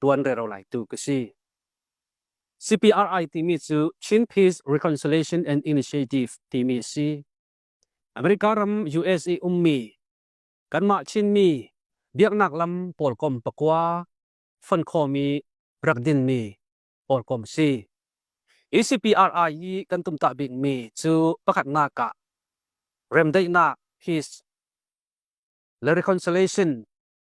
tuan rero lai tu ka si. CPRI timi cu Chin Peace Reconciliation and Initiative timi a si. America ram US i ummi kanmah Chinmi biaknak lam pawlkom pakua fon khomi rak dinmi pawlkom si. Hi CPRI hi kan tumtah bikmi cu pakhatnak ah remdaihnak, peace le reconciliation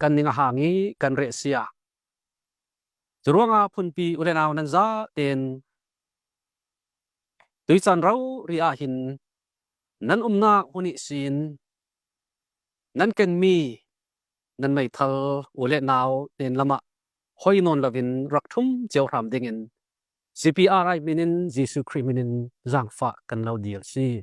kan ning a hang i kan reh si ah. Cu ruangah phunpi ulenau nan za tein tuican ro ri ah hin nan umnak hun i sin nan kenmi nan meithal u le nau tein lamah hoi nawn lovin rak thum cio hram dingin CPR min in Jesuh Khrih min in zaangfah kan lo dir si.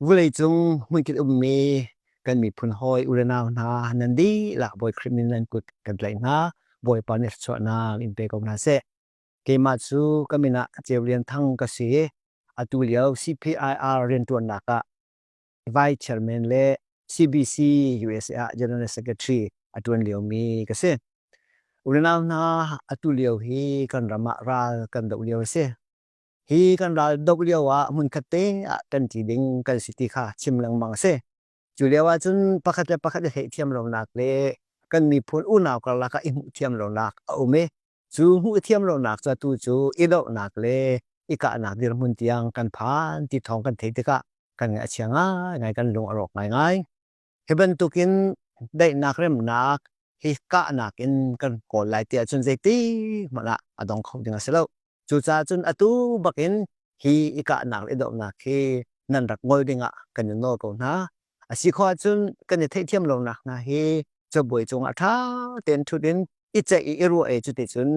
Vuleicung hmunkit ummi kan miphun hawi urenau hna nan dihlak Bawi Khrih min nan kut kan tlaih hna. Bawipa nih thluachuahnak in pe ko hna seh. Keimah cu ka min ah Ceu Lian Thang ka si i atu lio CPIR rianṭuannak ah Vice Chairman le CBC USA ah General Secretary a ṭuan liomi ka si. Urenau hna atu lio hi kan ram ah ral kan doh lio a si. Hi kan ral dok lio ah hmunkhat te ah kan ti ding kan si ti kha chim lengmang a si. Cu lio ah cun pakhat le pakhat i theihthiam lonak le kan miphun unau karlak ah i hmuh thiam lonak a um i cu hmuh thiam lonak cu atu cu i dohnak le i kahnak dirhmun tiang kan phan ti thawng kan theih tikah kan ngaih a chia ngai ngai kan lung a rawk ngai ngai. Hi bantukin daihnak remnak hi kahnak in kan kawl lai tiah cun zeiti hmanh ah a dong kho ding a si lo. Cucaah cun atu bakin hi i kahnak le dohnak hi nan rak ngol dingah kan i nawl ko hna. A si khawh ahcun kan i theihthiam lonak hna hi cabuai cungah ṭha tein ṭhut in i ceih i i ruah e cuticun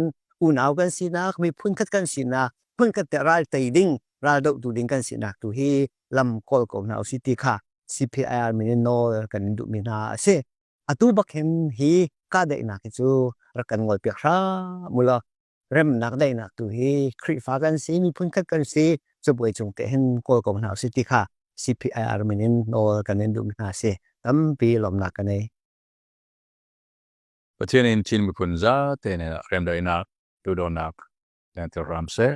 unau kan sinak, miphun khat kan sinak, hmun khat te ral tei ding, ral dohtu ding kan sinak tu hi lam kawl ko hna usi ti kha CPIR min in nawl kan in duhmi hna a si. Atu bak hin hi ka daihnak hi cu rak kan ngol piak hram ulo. Remnak daihnak tu hi Khrihfa kan si, miphun khat kan si, cabuai cung te hin kawl ko hna usi ti kha CPIR min in nawl kan in duhmi hna a si. Tampi lawmnak kan ei. Pathian in Chin miphun zate nih remdaihnak, duhdawtnak, lengtir ram seh.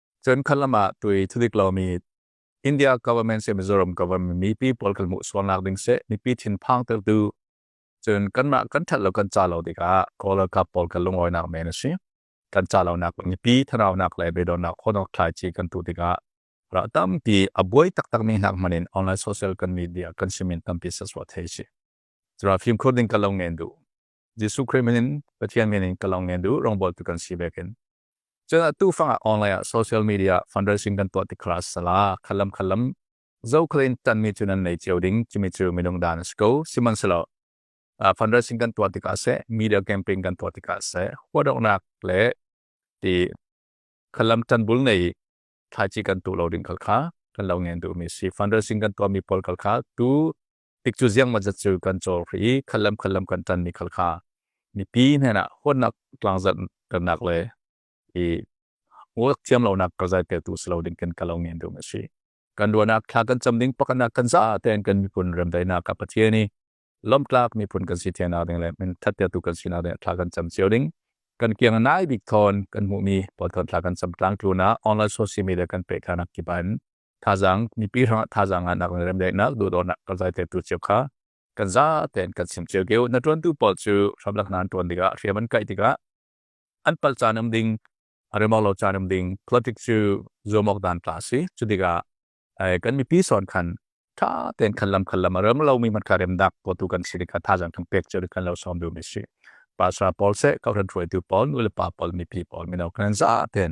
Cun khan lamah tui thudik lomi India government se Mizoram government mipi pawl kan hmuh sualnak ding se mipi thinphang tertu cun kanmah kan that lo kan ca lo tikah kawl ralkap pawl kan lungawinak men a si kan ca lonak mipi thanaunak le beidonnak khonok thlai chi kan tu tikah ra tampi a buai taktak mi hnak manin online social kan media kan simin tampi saswa thei si Zara phim khur ding kalong ngen du Jesuh Christ minin Pathian minin kalong ngen du rongbol tu kan si bekin Cun atu fangah online ah social media fundraising kan tuah tik kha sala khalam khalam zokhalin tanmi cu nan nei cio ding cumi cu minung dan a si ko sihmanhselaw fundraising kan tuah tikah seh media campaign kan tuah tikah seh huadoknak le ti khalam tanbul nei thlaici kan tu lo ding kal kha kan lo ngen duhmi si fundraising kan tuahmi pawl kal kha tu tik cu ziang ma zat cu kan cawr ri khallam khallam kan tan mi khal kha mipi hnen ah huatnak tlang zat kannak le i ngok thiam lonak ka zai te tu slo ding kan kalo ngen dum asi kan duanak thla kan cham ding pakana kan za ten kan mi pun rem dai na ka pathiani lom tlak mi pun kan si thena ding le min thatya tu kan sina ding thla kan cham chiu ding kan kiang nai bik thon kan mu mi pothon thla kan cham tlang tu na online social media kan pe khana ki ban thazaang mipi hrangah thazaang ah nak le remdaihnak duhdawtnak kan zai te tu cio kha kan za ten kan sim cio keu na tuan tu pawl cu hramlak nan tuan tikah hriam an kai tikah an pal caan um ding remok lo caan um ding politic cu zomok dan tla si cu tikah kan mipi son khan tha ten khan lam khan lam rem lo mi man kha rem dak ko tu kan si ka tha jang thang pek chu kan lo som du mi si pasra paul se ka ran thuai tu paul nu le pa paul mi pi paul mi no kan za ten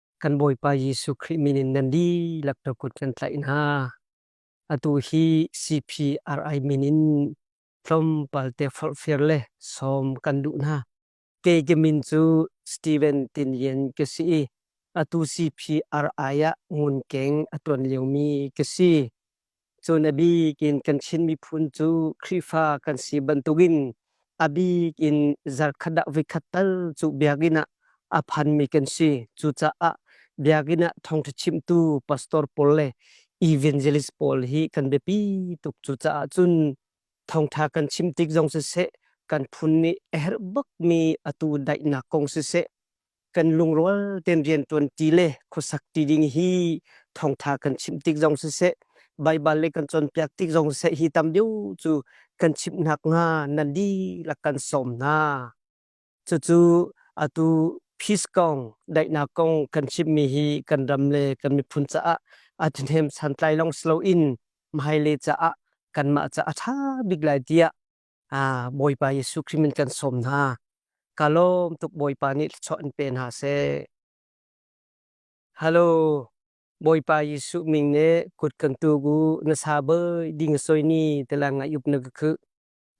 kan Bawipa Jesuh Khrih min in nan dihlak na kut kan tlaih hna. Atu hi CPRI min in tlawmpal te forhfial le sawm kan duh hna. Kei ke min cu Steven Tin Yen ka si i atu CPRI ah ngun keng a tuan liomi ka si. Cun a bik in kan Chin miphun cu Khrihfa kan si bantukin a bik in zarkhat ah voikhat tal cu biakinn ah a phanmi kan si. Cucaah biakinn ah thawngṭha chimtu pastor pawl le evangelist pawl hi kan biapi tuk. Cucaah cun thawngṭha kan chim tik zong siseh, kan phun nih a herh bakmi atu daihnak kong siseh, kan lungrual tein rianṭuanṭi le khuasakṭi ding hi thawngṭha kan chimh tik zong siseh, Baibal le kan cawnpiak tik zong siseh hi tam deuh cu kan chimh nakhnga na dihlak kan sawm hna. Cucu atu peace kong, daihnak kong kan chimmi hi kan ram le kan miphun caah a ṭhahnem santlai lawng si loin hmailei caah kanmah caah a ṭha bik lai tiah Bawipa Jesuh Khrih min kan sawm hna. Ka lawm tuk Bawipa nih thluachuah an pe hna seh. Halo, Bawipa Jesuh min nih kut kan tuk u na sa boi ding soi ni tela nga yup na ka khuh.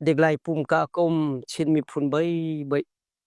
Dek lai pum ka kom chin miphun boi boi.